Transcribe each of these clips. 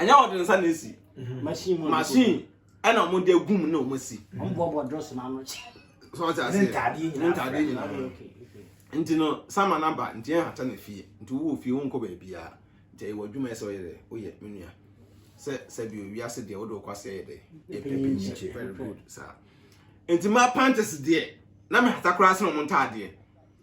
ɛnyɛ wɔde nsa na esi machine ɛna wɔn de egum na wɔn si. wɔn bɔ bɔ drɔs na ano kyɛ. sɔɔ ti ase ntaadeɛ nyinaa ntaadeɛ nyinaa nti no sama na ba nti yɛn hata na fie nti wo wɔ fie wo nkɔ baabi a nti ɛyɛ wɔ adwuma ɛsɛ ɔyɛ dɛ woyɛ me nua sɛ sɛbi owi ase deɛ wode wokɔ ase ɛyɛ dɛ ɛpɛpɛnkyi very good saa nti ma pantes deɛ na me hata koraa sɛ na wɔn ntaadeɛ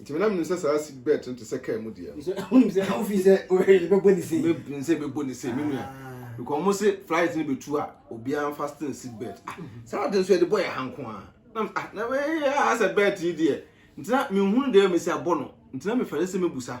Nti me na menim sɛ saa seat belt no te sɛ kaa mu deɛ. Nso wonim sɛ wofi sɛ bɛbɔ ne sei. Menim sɛ bɛbɔ ne sei me nua. Ah. Because wɔn se flight no bɛtu a obiara fasten seat belt. Ah, mm-hmm. Saa de nso yɛde bɔ yɛ ha nko a. Na ah na wei asɛ belt yi deɛ. Nti na menhunu deɛ mesi abɔ no. Nti na mefɛre sɛ mebusa.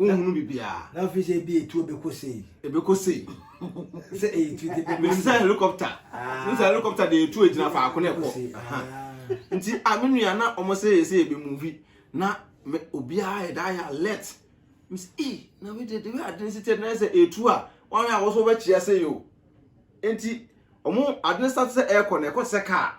nhunu biribiara. na ɔfiri sɛ ebi etuo bɛkɔ sei. ebɛkɔ sei. sɛ ɛyɛ tuo de bɛkɔ sei. sɛ helicopter ah. sɛ helicopter de etuo gyina faako na ɛkɔ ah. nti a ah, me nua na wɔn sɛ yɛ sɛ yɛ bɛ muvi na me obiara yɛ da yɛ alert me sɛ ee na wei de de wei ade si tɛ na sɛ etu a wɔn a wɔsɔ wɔbɛkyia sɛ yɛ o nti wɔn ade ne sa sɛ ɛkɔ na ɛkɔ sɛ kaa.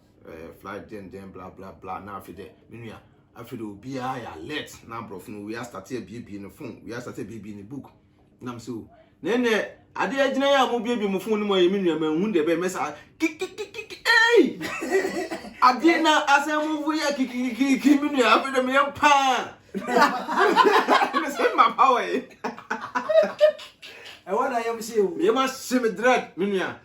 eh, flight den den bla bla bla na afei dɛ me nua afei dɛ obiara yɛ alert na aborɔfo no wia starte abiebie ne phone wia starte abiebie ne book nam sɛ o na ɛnɛ ade agyina yɛ a mobiebie mo phone no mu ayɛ me nua manhu dɛ bɛyɛ mɛsa kikikikiki ei adeɛ na asɛm mu fo yɛ kikikikiki me nua afei dɛ meyɛ paa mesɛ ma pa wɔ ye ɛwɔ na yɛm hye o yɛma hye me dread me nua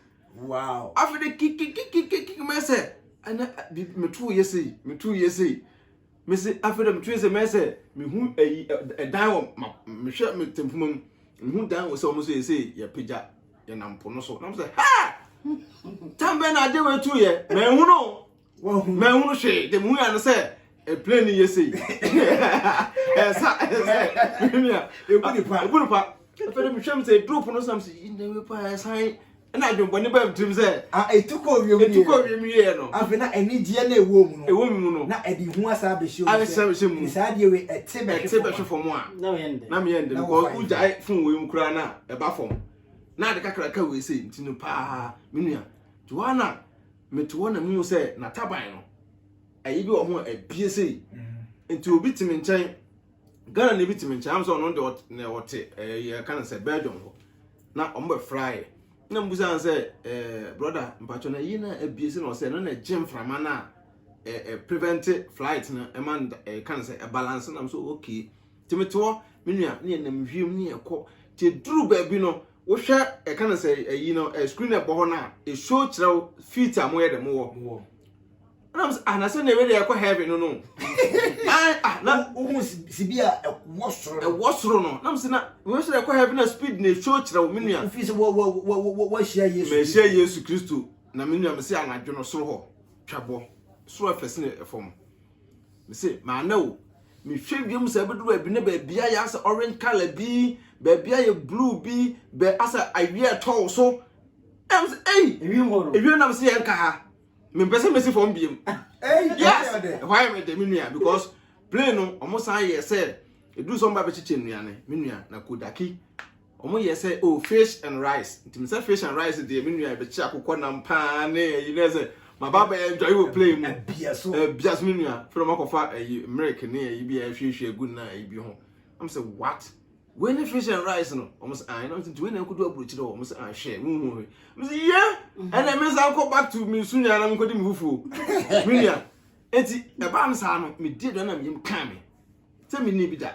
wow afei de kikikikikiki mɛ sɛ ɛnɛ bibi metu yɛ sei metu yɛ sei mese afei de metu yɛ sɛ mɛ sɛ mehu ɛyi ɛdan wɔ ma mehwɛ me tempoma mu mehu dan wɔ sɛ wɔn so yɛ sei yɛ pagya yɛ nam po no so na mo sɛ ha tambɛ na agye wɔ etu yɛ mɛ hu no. Mɛhunu hwee de muhu ano sɛ plane no yɛ sei ɛsa ɛsɛ menua ɛbu nipa ɛbu nipa ɛfɛ de mehwɛ m sɛ drop no sam sɛ yi na pa ɛsan ɛna adwembɔne baa mtirim sɛ ɛtukɔ wiem ɛtukɔ wiem yɛ no afei na anigyeɛ na ɛwɔ mu no ɛwɔ mu no na ɛde hu asa abɛhyɛ mu sɛ mu saa adeɛ wei ɛte bɛhwe fam a na meyɛ ndɛ na meyɛ ndɛ because wogyae fon wei mu koraa na ɛba fam na ade kakraka wei sɛ nti no paa menua Joanna Mete hɔ na mehu sɛ n'ataban no, ɛyi bi wɔ ho a ɛbie sei. Mm-hmm. Nti obi te me nkyɛn, Ghana na ebi te me nkyɛn, am sɛ ɔno deɛ na ɔte ɛɛ eh, yɛka no sɛ Belgium hɔ. Na wɔn bɛ fraeɛ. Na mo bisa sɛ ɛɛ eh, broda mpatwɔ na ɛyi na ɛbie sei na ɔsɛ ɛno na ɛgye mframa na ɛɛ eh, prevent flight no ɛma ɛka no sɛ ɛbalance na mo so okay. Te me te hɔ, me nua ne yɛnam wiem ne yɛkɔ. Te duru baabi no. Wohwɛ ɛka no sɛ ɛyi no ɛ screen ɛbɔ hɔ no a ɛshow kyerɛ wo feet a moyɛ dɛ mowɔ ɛna mo sɛ ah na sɛ na ɛwɛ deɛ ɛkɔ heaven no no ah na wohu sibi a ɛwɔ soro no ɛwɔ soro no na mo sɛ na wɔn sɛ ɛkɔ heaven na speed na ɛshow kyerɛ wo menua wofi sɛ wɔ wɔ wɔ wɔ wɔahyia yesu mɛhyia yesu kristo na menua mo sɛ anadwo no soro hɔ twabɔ soro ɛfɛ sene ɛfam Mese maame o, mehwɛ wiem sɛ ɛbɛduru baabi na baabi ayɛ asɛ orange color bi, baabi ayɛ blue bi, bɛ asɛ awie ɛtɔ wo so. Ɛm sɛ ei, ewie nam sɛ yɛnka ha, mempɛ sɛ mesi fam biem. Yes, ɛhɔ ayɛ me de me nua because plane no wɔn san yɛ sɛ ɛduru sɛ wɔn ba bɛkyekyɛ nnuane me nua na kodaki Ɔmo yɛ sɛ oh fish and rice nti mesɛ fish and rice deɛ me nua yɛbɛkye akokɔ nam paa ne ayi ne sɛ maba abɛyɛ enjoy wɔ play mu ɛbia so ɛbia so me nua fɛrɛ ɔmo akɔfa ayi milk ne ayi bi a ɛhwiehwie egu na ayi bi ho ɔmo sɛ what wei ne fish and rice no ɔmo sɛ ayi na ɔmo sɛ nti wei na nkodu aburokyire hɔ ɔmo sɛ ah hwɛ mu hu hwɛ ɔmo sɛ yɛ ɛna me nsa nkɔ back to me su nua na me nkɔdi me fufuo me nua eti ɛbaa no saa no me di aduane na me yam kaa me. sɛ menni bi da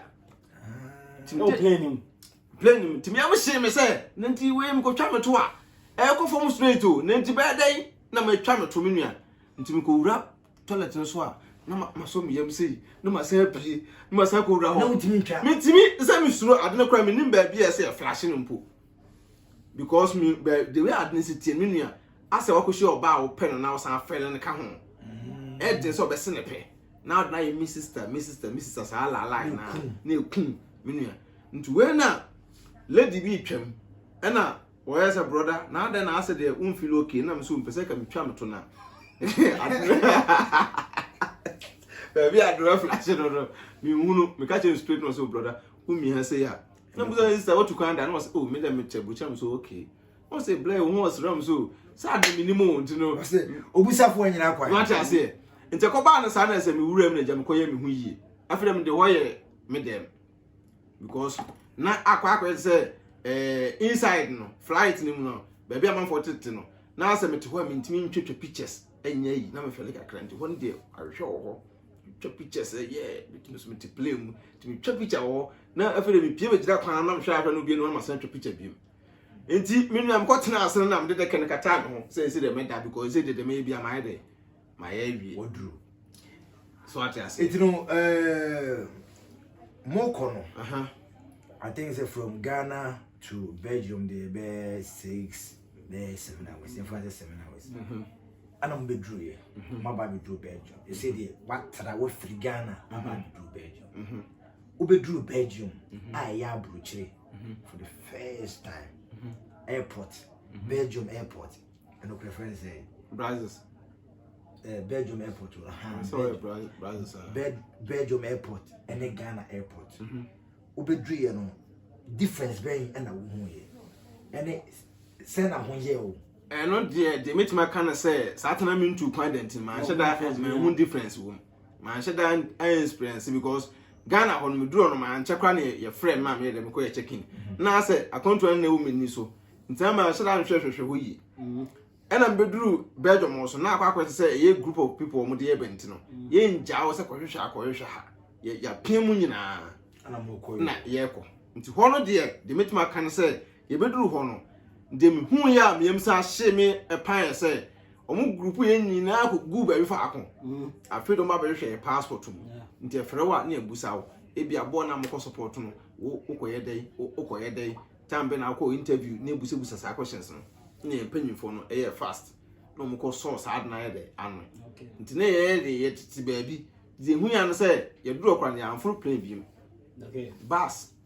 plane mu tumi ɛmo hyee me sɛ na nti wei mekɔtwa me to a ɛkɔ fam straight o na nti bɛyɛ dɛn na matwa me to me nua nti mekɔwura toilet no so a na masɔ me yam sei na masan apue na masan kɔwura hɔ metumi sɛ mesuro ade no kora menim baabi a ɛsɛ yɛ flashe no mpo because me the way ade no sɛ tie me nua Asɛ wakohyia ɔbaa a ɔpɛ no na ɔsan afrɛ no no ka ho. Ɛyɛ den sɛ ɔbɛse ne pɛ. Na ɔde no ayɛ me sister, me sister, me sister saa laalai na na ekum me nua. Nti wei na lady bi retwam ɛna ɔyɛ sɛ brother na adɛn na asɛ deɛ won feel okay na me so mpɛ sɛ ka metwa me to na baabi a adorɛ flash no no menhunu meka kyerɛ no straight na ɔsɛ oh brother womia sɛ yɛ a na busa sister watu kwan da na ɔsɛ oh me dɛ mekyɛ bukyɛ me so okay ɔsɛ blɛ wo ho ɔsram so sɛ ade menim o nti no ɔsɛ obusafoɔ anyina kwan wate aseɛ nti ɛkɔbaa no saa na sɛ mewura mu na gya mekɔyɛ me ho yie afei dɛ mede hɔ yɛ me dɛm because na akɔ akɔyɛ sɛ eh, inside no flight no mu no baabi amanfoɔ tete no na sɛ mete hɔ a mentumi ntwatwa pictures ɛnyɛ yi na mefɛle kakra nti hɔ no deɛ ahwehwɛ wɔ hɔ twa pictures ɛyɛ metumi so mete plane mu tumi twa picture wɔ hɔ na afei dɛ mepie megyina kwan na mehwɛ ahwɛ no bie no na masan twa picture bio nti me nua mekɔ tena ase no na mede dɛkɛ no kata me ho sɛ ɛsɛ dɛ meda because ɛsɛ dede meyɛ bi a mayɛ dɛ mayɛ awie waduru so ate ase nti no eh, mokɔ no aha I think sɛ from Ghana to Belgium deɛ bɛyɛ six bɛyɛ seven hours yɛmfa sɛ seven hours mhm. ana mo bɛduru yɛ mhm. mo aba bɛduru Belgium ɛsɛ deɛ watara wafiri Ghana aba mhm. bɛduru Belgium wobɛduru Belgium a ɛyɛ aburokyire mhm. for the first time mhm. airport mhm. belgium airport ɛno kura fɛn sɛ brazils eh, belgium airport belgium airport ɛne ghana airport wobɛduru yɛ no difference bɛn ɛna wohu yɛ ɛne sɛ na ho yɛ o ɛno deɛ deɛ mɛtumi aka no sɛ saa tena mentu kwan dɛnti manhyɛ da mahu difference wɔ mu manhyɛ da experience because ghana hɔ no meduru hɔ no mankyɛ koraa na yɛfrɛ me a meyɛ dɛ mekɔyɛ check in na sɛ akwantuo no na ɛwɔ m'ani so nti na manhyɛ da nhwɛhwɛhwɛ hɔ yie ɛna mbɛduru belgium wɔ so na akɔ akɔte sɛ ɛyɛ group of people wɔn de yɛ bɛnti no yɛngyaa wɔ sɛ kɔhwehwɛ akɔhwehwɛ ha yɛapia mu nyinaa na yɛkɔ nti hɔ no deɛ deɛ mɛtumi aka no sɛ Yɛbɛduruu hɔ no, deɛ mehuuiɛ a meyam san hyee me ɛpan yɛ sɛ wɔn group yɛn nyinaa kɔguu baabi faako. Afei de wɔn abɛhwehwɛ yɛn passport mu. Nti ɛfrɛ wo a ne abusa wo. Ebi aboɔ na mokɔ support no, wo wokɔyɛ dɛn, wo wokɔyɛ dɛn, time bɛn na wokɔ interview ne busabusa saa questions no. Ne yɛn mpanyinfoɔ no ɛyɛ fast. Na wɔn kɔ sɔɔ saa ade no ayɛ dɛ ano. Nti ne yɛyɛ de yɛtete baabi. Deɛ ɛhuiɛ ano sɛ yɛduru ɔkora no yɛamforo plane biom. Bus.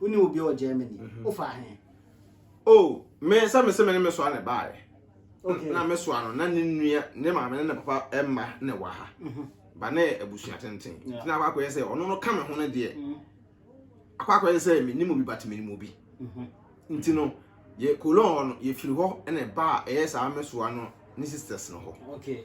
Wone obi wɔ Germany. Mhm. Wofa he? Oh, me sɛ me se me ne me soa ne baeɛ. Okay. Na me soa no na ne nua ne maame ne ne papa mma ne wɔ ha. Mhm. Ba ne abusua tenten. Yeah. Tina akɔ akɔyɛ sɛ ɔno no ka me ho no deɛ. Mhm. Akɔ akɔyɛ sɛ me nim obi but me nim obi. Mhm. Nti no yɛ kolon hɔ no yɛfiri hɔ na ɛba a ɛyɛ saa me soa no ne sisters no hɔ. Okay.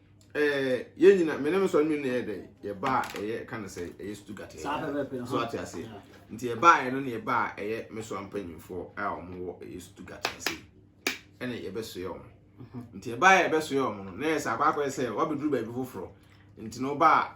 eh, yɛn nyina me ne me sɔre mmienu na ɛyɛ dɛ yɛba a ɛyɛ ka no sɛ ɛyɛ stugat ɛyɛ so ate ase nti yɛbaeɛ no ne yɛba a ɛyɛ me so ampanyimfoɔ a wɔn wɔ ɛyɛ stugat ase ɛna yɛbɛsoɛ wɔn mhm. nti yɛbaeɛ yɛbɛsoɛ wɔn no na yɛ sɛ akɔ akɔyɛ sɛ wɔabɛduru baabi foforɔ nti na ɔba a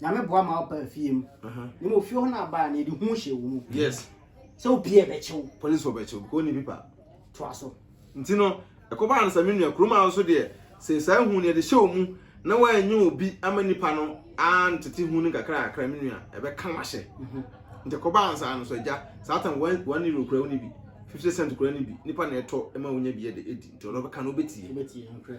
Nyame boa ma wo baa fie mu. Ne mo fie hɔ na abaa na yɛde hu hyɛ wo mu. Yes. Sɛ wo pie ɛbɛkye wo. Police wɔ bɛkye wo because ɔni pipa. Toa so. Nti no ɛkɔbaa no saa me nua Kuruma nso deɛ sɛ saa hu no yɛde hyɛ wo mu na woanyɛ obi ama nipa no antete hu no nkakra kakra me nua ɛbɛka wo ahyɛ. Nti ɛkɔbaa no saa no so agya saa tam one euro kura wo ne bi fifty cent kura ne bi nipa na ɛtɔ ma wonya bi ɛde ɛdi nti ɔno ɔbɛka no wobɛtie.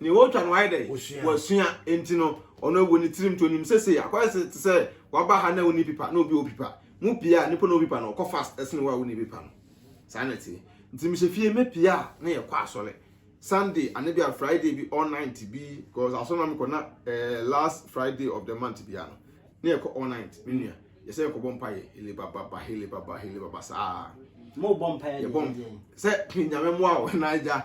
Nea ɔretwa no wayɛ dɛ? Wasua. Enti no, ɔno ɛwɔ ne tirim nti onim sɛ sei akɔyɛ sɛ te sɛ waba ha na wonni pipa na obi wɔ pipa. Mopie a, nipa na ɔwɔ pipa no ɔkɔ fast sene wo a wonni pipa no. Saa na ɛteɛ. Nti mehyɛ fie mepie a na yɛkɔ asɔre. Sunday anaa bi a Friday bi all night bi cause asɔre na mekɔ na eh, last Friday of the month biara no na yɛkɔ all night me nua. Yɛsɛ yɛkɔbɔ mpaeɛ hele baba hele baba hele baba saa. Mobɔ mpaeɛ deɛ deɛ. Yɛbɔ sɛ Nyame mmoa wo na agya.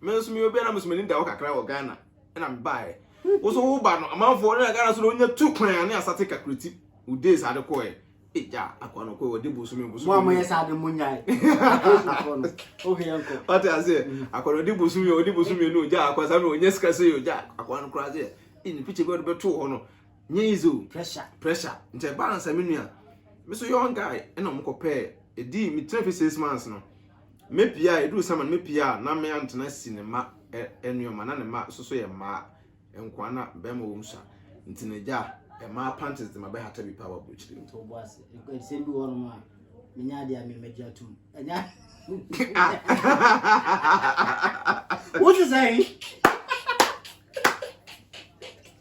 Me nso meyɛ obi a na meso m'ani da hɔ kakra wɔ Ghana ɛna mebaeɛ. Wo nso woba no amanfoɔ na Ghana so na wonya tu kwan a ne asate kakrati wo days ade kɔɛ. E gya akoa no kɔɛ wɔde bosome bosome. Mo a moyɛ saa de monyae. Akosuafoɔ no wohwɛ yɛn kɔ. Wate aseɛ akoa no ɔde bosome yɛ ɔde bosome no gya akoa saa mmerɛ ɔnya sika sɛ yɛ gya akoa no koraa sɛ e ne picture bi ɔde bɛtoo hɔ no nyɛ easy o. Pressure. Pressure. Nti ɛba ansa me nua me so young guy ɛna ɔmo kɔpɛɛ ɛdi me tena fi six months no. Me pia a ɛduru summer no me pia a na me antena si ne ma nneɛma na ne ma soso yɛ mmaa nkoa na bɛrima wɔm sua nti na gya mmaa panties de ma bɛhata bi paa wɔ aburokyiri mu. Tɔbo ase. Ɛsɛm bi wɔ nom a menya adeɛ a memɛgye atom. Ɛnya. Wote sɛ yi?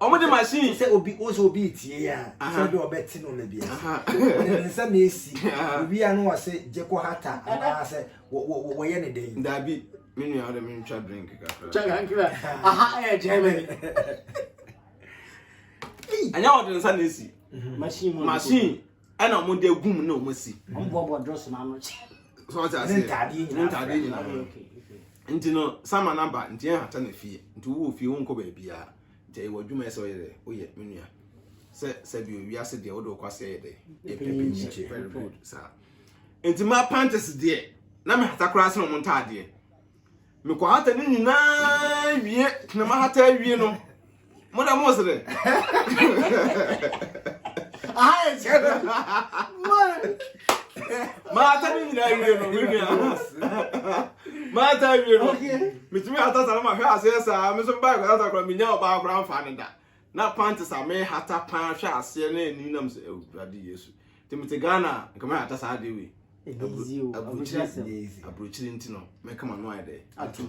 Wɔn de machine. Sɛ obi o sɛ obi tie ya sɛ bi ɔbɛ ti no na bi ɛsɛ. Ɔde ne nsa na esi. Obi ano ɔsɛ jeko hata anaa sɛ wɔ wɔ wɔ yɛ ne den. Dabi mi nua ɔde mi ntwa drink kakra. Twa kakra. Aha ɛyɛ Germany. Ɛnyɛ ɔde ne nsa na esi. Machine mu. Machine. ɛna wɔn de agum na wɔn asi. wɔn bɔbɔ dɔs ma no kyɛ. sɔɔ ti ase ntaadeɛ nyinaa ntaadeɛ nyinaa nti no sama na ba nti yɛn hata na fie nti wowɔ fie wɔn nkɔ baabi a nti ɛyɛ wɔ adwuma yɛ sɛ ɔyɛ dɛ woyɛ me nua sɛ sɛbi owi ase deɛ wode ɔkɔ ase yɛ dɛ ɛpɛ bi nkyɛ very good saa nti ma pantes deɛ na me hata koraa sɛ wɔn ntaadeɛ. Me kɔ hata ne nyinaa wie na ma hata wie no mo da mo sere. Aha yɛ sɛ no. Ma hata ne nyinaa wie no me nua. Ma hata wie no. Metumi hata sa no ma hwɛ aseɛ saa me so baa kɔ hata kora menya ɔbaa kora mfa ne da. Na pantes a me hata paa hwɛ aseɛ na ani nam sɛ awurade Yesu. nti mete ghana a nka mɛhata saa adeɛ wei aburokyiri nti no mɛka ma no ayɛ dɛ atom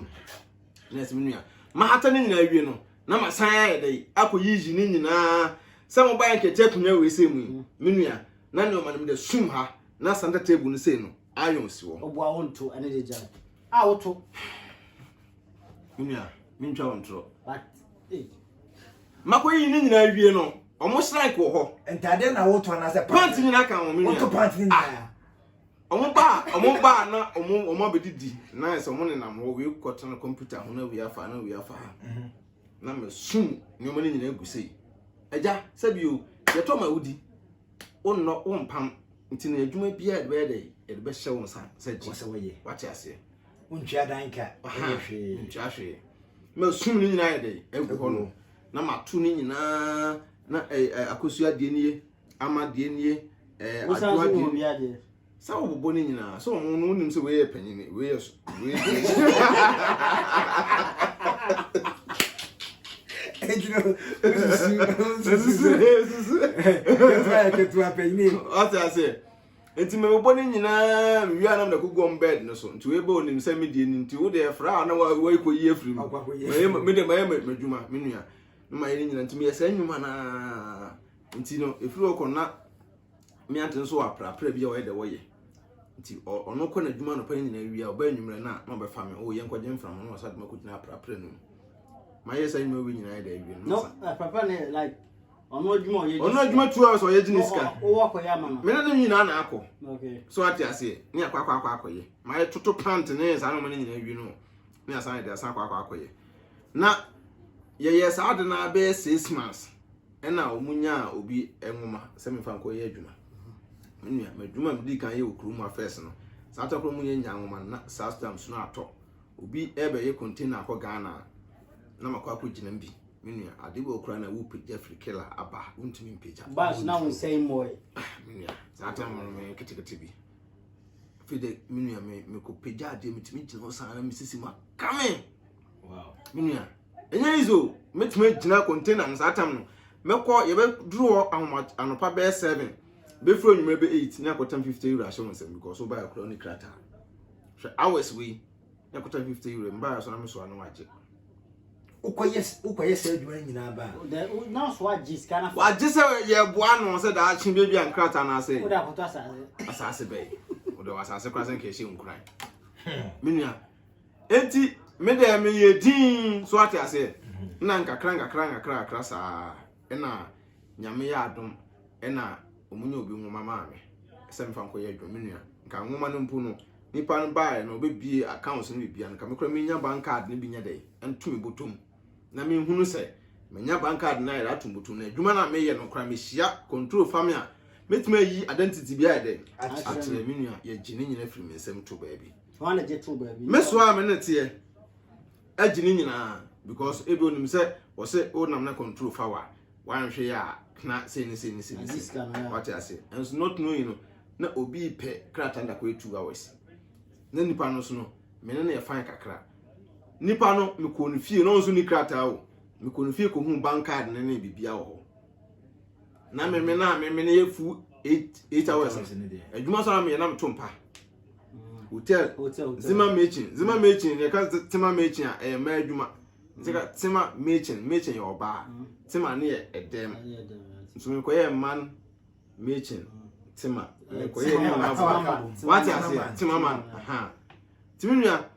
na ɛsɛ me nua mahata ne nyinaa wie no na masan ayɛ dɛ akɔ yiyi ne nyinaa sɛ mobaɛ nkɛkyɛ akonnwa wei sɛ mu yi mm. me nua na ne ɔma no mede sum ha na santa table no sei no ayɔn si wɔ ɔboa wo nto ɛne de gya a woto Nua, mentwa wo ntorɔ. Makɔyi ne nyinaa wie no, ɔmo srank wɔ hɔ. Ntadeɛ na wotɔ anaasɛ pant? Pant nyinaa ka wɔn nua. Wotɔ pant nyinaa. Ah. Ɔmo baa, ɔmo baa na ɔmo ɔmo abɛdidi na ɛsɛ ɔmo nenam hɔ wei kɔtena kɔmputa ho na wei afa na wei afa ha. Mhm. Na mɛsum nneɛma no nyinaa gu sei. Agya, sɛbi o, yɛtɔ ma wodi. wonnɔ wompam nti no adwuma biara de bɛyɛ dɛ yɛde bɛhyɛ wo nsa sɛ gye sɛ wɔyɛ wate aseɛ wontwa dan ka ɛyɛ hwee ntwa hwee ma sum no nyinaa yɛ dɛ agu hɔ no na mato no nyinaa na akosua deɛ nie ama deɛ nie adwoa deɛ Sɛ wɔbobɔ ne nyinaa, sɛ wɔn no wonim sɛ wei yɛ panyini, wei yɛ so, wei yɛ ɔte aseɛ nti mebobɔ ne nyinaa mewie anam na kogu ɔm bed no so nti wei bɛ onim sɛ medie no nti wode ɛfra a na waikɔyi afiri mu mede mayɛ madwuma me nua na mayɛ ne nyina nti meyɛ saa nnwuma naa nti no ɛfiri hɔ kɔ na Meant nso aprapra bi a ɔyɛ dɛ ɔyɛ nti ɔno kɔ n'adwuma anɔpa no nyinaa wie a ɔba anwummerɛ no a na ɔbɛfa me o yɛnkɔgye mframa na ɔsa de makɔgyina aprapra no mu mayɛ saa nnwuma wie nyinaa yɛ dɛ awie no masa aprapra no yɛ like ɔno adwuma ɔyɛ ɔno adwuma two hours ɔyɛ gye ne sika ɔwɔ akɔyɛ ama no mene ne nyinaa na akɔ so ate aseɛ ne akɔ akɔ akɔ akɔyɛ mayɛ toto pant ne saa noma no nyinaa wie no ne asan de asan akɔ akɔ akɔyɛ na yɛyɛ saa de no abɛyɛ six months ɛna wɔn nyaa obi nwoma sɛ mefa nkɔ yɛ adwuma me nua m'adwuma a medi kan yɛ wɔ kurom afɛs no saa tɔkoro mu yɛ nyaa nwoma no na saa stam so no atɔ obi ɛbɛyɛ container akɔ ghana a na makɔ akɔ gyina mu bi me nua ade wɔ kura na wopagya firi kela aba wontumi mpagya bas na wonsɛe mmɔe me nua saa tam no me ketekete bi afei de me nua me mekɔpagya adeɛ metumi gyina hɔ saa na mesisi mu akame me nua Ɛnyɛ easy o, mɛtumi agyina container no saa tam no, mɛkɔ yɛbɛduru hɔ ahoma anɔpa bɛyɛ seven, bɛfiri anwummerɛ bɛ eight ne akɔtam fifty euro ahyɛ wɔn nsam because wobaeɛ koraa ne krataa hwɛ hours wei ne akɔtam fifty euro mbaeɛ so na mesoa no wagye wokɔyɛ wokɔyɛ saa adwuma no nyinaa baa wagye sɛ yɛboa no sɛ daakye baabi a nkrataa no asɛ asase bɛyɛ wode wɔ asase koraa sɛ nka ɛhyɛ nkuran menua Enti me dɛ meyɛ dinn, so ate aseɛ? Na nkakra nkakra nkakra kakra saa, ɛna Nyame yɛ adom, ɛna wɔn nyɛ obi nwoma maa me, sɛ mefa nkɔyɛ adwuma, me nua, nka nwoma no mpo no, nipa no baeɛ no, ɔbɛbie accounts no biribiara no, ka me kora menya bank card no bi nyɛ dɛ, nto me bɔtom, na menhunu sɛ, menya bank card no ayɛ dɛ ato me bɔtom, na adwuma no a meyɛ no kora mehyia control fa me a, mɛtumi ayi identity bi ayɛ dɛ, akyerɛ me nua, yɛgye ne nyina firi me nsam to baabi. me so a me ne teɛ agye ne nyinaa because ebi onim sɛ wɔsɛ wonam na control fa wa wanhwɛ yɛ a na sei ne sei ne sei ne sei wate ase nso not knowing no na obi pɛ krataa no dakɔ two hours na nipa no so no me ne no yɛ fan kakra nipa no mekɔ ne fie na ɔnso ni krataa o mekɔ ne fie kɔhu bank card ne ne biribia wɔ hɔ na meme no a meme no yɛ fu eight hours adwuma so a meyɛ na meto mpa hotel zima mechin zima mechin yɛ ka tema mechin a ɛyɛ mmaa adwuma nti ka tema mechin mechin yɛ ɔbaa tema ne yɛ ɛdɛm nso mekɔ yɛ man mechin tema mekɔ yɛ ne nyinaa bɔ wate aseɛ tema man ha tìmí nua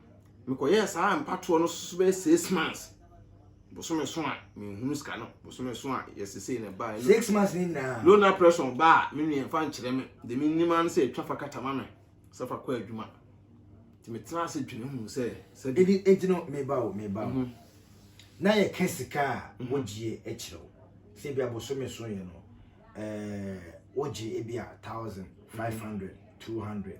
mekɔ yɛ saa mpatoɔ no soso bɛyɛ six months. bosome so a menhunu sika no bosome so a yɛsesei na ɛbaa ɛno six months ne nyinaa low na pressure ɔbaa me nua mfa nkyerɛ me de me nim ano sɛ ɛtwa fa kata ma me sɛ fa kɔ adwuma nti metena ase dwene hu sɛ sɛ de ɛdi nti no meba o meba o na yɛka sika a wogyie akyerɛ wo sɛ bi abosome so yɛ no ɛɛ wogye ebi a thousand five hundred two hundred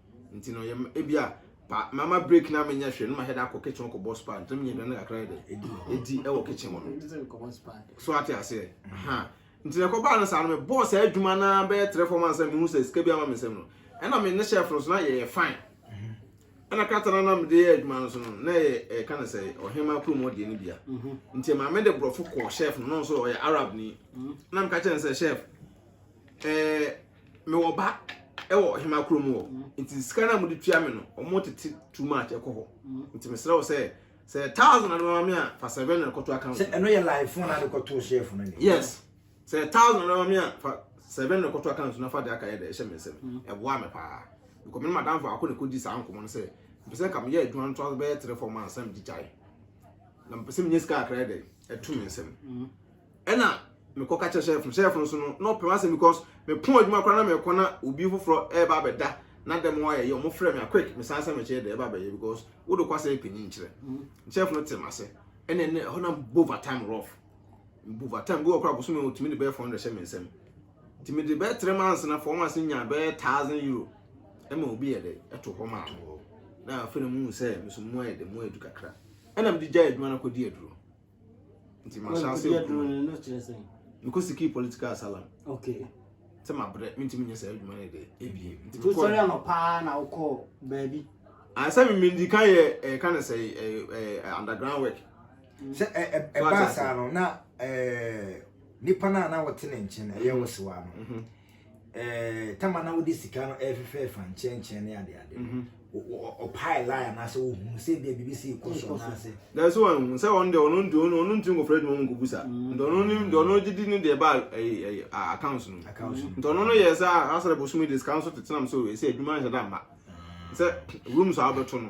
nti no yɛ ebi a pa mama break na menyɛ hwɛ no ma hɛda akɔ kitchen kɔ bɔ spa nti menyɛ hwɛ no kakra yɛ dɛ edi ɛwɔ kitchen hɔ no so ate aseɛ ha nti na ɛkɔbaa no saa no mebɔɔ saa adwuma no bɛyɛ trɛ fam ansa mehu sɛ sika bi ama me nsɛm no ɛna me ne hyɛ foro so na yɛyɛ fine ɛna krata no na mede yɛ adwuma no so no na yɛ ɛka no sɛ ɔhema kurom ɔdeɛ no bia nti maame de borɔfo kɔɔ chef no na ɔno nso ɔyɛ arab ni na meka kyerɛ no sɛ chef Ɛɛ, mewɔ ba wɔ ɔhemaa kurom hɔ. Nti sika no a wɔde tua me no, wɔtete too much ɛkɔ hɔ. Nti mesrɛ wo sɛ, sɛ thousand na de bɛma me a, fa seven na kɔto account. Sɛ ɛno yɛ live phone na de kɔto shelf no ne. Yes. Sɛ thousand na de bɛma me a, fa seven na kɔto account na fa de aka yɛ dɛ ɛhyɛ me nsam. Ɛboa me paa. Because me ne madam fo akɔ na kɔdi saa nkɔmmɔ no sɛ, mpɛ sɛ nka meyɛ adwuma no to asɛ bɛyɛ three four months na mede gyae. Na mpɛ sɛ menya sika kakra yɛ dɛ ɛto me nsam. ɛna mekɔ ka kyerɛ sɛfo sɛfo nso no na ɔpɛ asɛm because mepɔn adwuma koraa na mekɔ na obi foforɔ ɛreba abɛda na dɛm hɔ ayɛ yɛ ɔmo frɛ me a quick mesan sɛ mekyerɛ dɛ ɛba abɛyɛ because wode kɔ asɛ ɛpɛ ni nkyerɛ sɛfo no te m'ase ɛna ɛna ɛhɔ na mbɔ overtime rough mbɔ overtime bi wɔ koraa bosome ɔtumi de bɛyɛ fɔn de hyɛ me nsam nti mede bɛyɛ three months na fɔn ase nya bɛyɛ thousand euro ɛma obi yɛ dɛ ɛto hɔ maa na afei na mu sɛ meso mu ayɛ dɛ mu ayɛ du kakra ɛna mede gya adwuma no akɔdi aduro nti mahyɛ ase adwuma mekɔsikii political asylum okay sɛ mabrɛ mentumi nyɛ saa adwuma no de ebie nti mekɔsɔre anɔ paa na wokɔ baabi asɛ ah, memendi ka yɛ ɛka eh, no sɛ eh, eh, underground work mm. sɛ ɛbaa saa no na nipa no a na wɔte ne nkyɛn ɛyɛ wo sewa no mhm. eh, tama na wode sika no ɛfefɛɛfa nkyɛnkyɛn ne adeade no mhm. ɔpae lie anaasɛ wohunu sɛ bia biribi sɛ ɛkɔ so anaasɛ dɛ sɛ wanhu sɛ ɔno deɛ ɔno nti ɔno ntumi nkɔfrɛ adwuma mu nkɔbu sa mm. nti ɔno ne deɛ ɔno gye di ne deɛ ba accounts no nti ɔno no yɛ sɛ asɛ dɛ bosom de sika no so tetenam sɛ ɛsɛ adwuma nhyɛ da mma sɛ room so a wobɛto no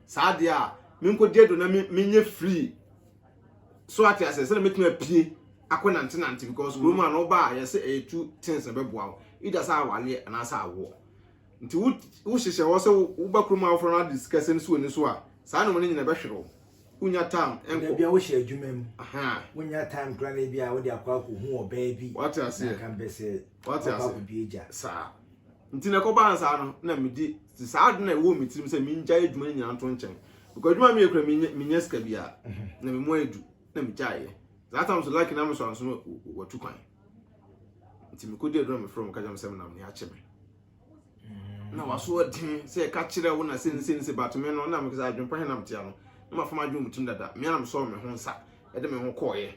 saa deɛ a menkɔgye do na menyɛ free so ate aseɛ sɛdeɛ mɛtumi apue akɔ nante nante because kuro mu a na ɔba a yɛsɛ ɛyɛ two things na bɛboa wo either sɛ awaleɛ anaasɛ awoɔ nti wohyehyɛ hɔ sɛ woba kuro mu a wofrɛ no ade sika sɛ no so ani so a saa nom no nyina bɛhwere wo wonya time ɛnkɔ bia wohyɛ adwuma mu wonya time kora na bia wode akɔ akɔhu ɔbaa bi wate aseɛ na kan bɛsɛ wate aseɛ akɔ akɔdua gya saa nti na ɛkɔbaa nsaa no na medi Te saa ade no a ɛwɔ me tirim sɛ mengyae adwuma no nyinaa nto nkyɛn because adwuma meyɛ kura menya sika bi a na me mu ayɛ du na megyaeɛ saa tam so laki na me so anso no watu kwan nti mekɔdi adwuma mefrɛ mu ka kyerɛ me sɛ menam ne akye me na waso ɔden sɛ ɛka kyerɛ wo na sɛ ne sɛ ne sɛ but me no na mekasa adwempa he nam tea no na mafam adwene mu tim dada mea na mesɔɔ me ho nsa ɛde me ho kɔɔyɛ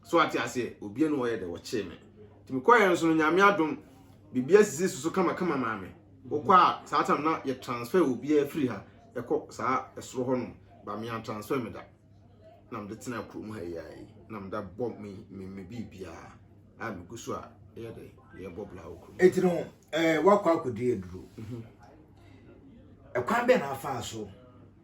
So wate aseɛ? Obia no ɔyɛ dɛ wɔkyee me nti mekɔɛ nso no nyame adom bibia sisi soso kama kama maa me wokɔ a saa tam na yɛ transfer obia firi ha ɛkɔ saa ɛsoro hɔ nom ba mea transfer me da na mede tena kurom ha yi ayi na meda bɔ me me me bibia a megu so a ɛyɛ dɛ yɛ bɔ bla wɔ kurom ɛti no eh, wakɔ akɔdi aduro mhm. ɛkwan bɛn na afaa so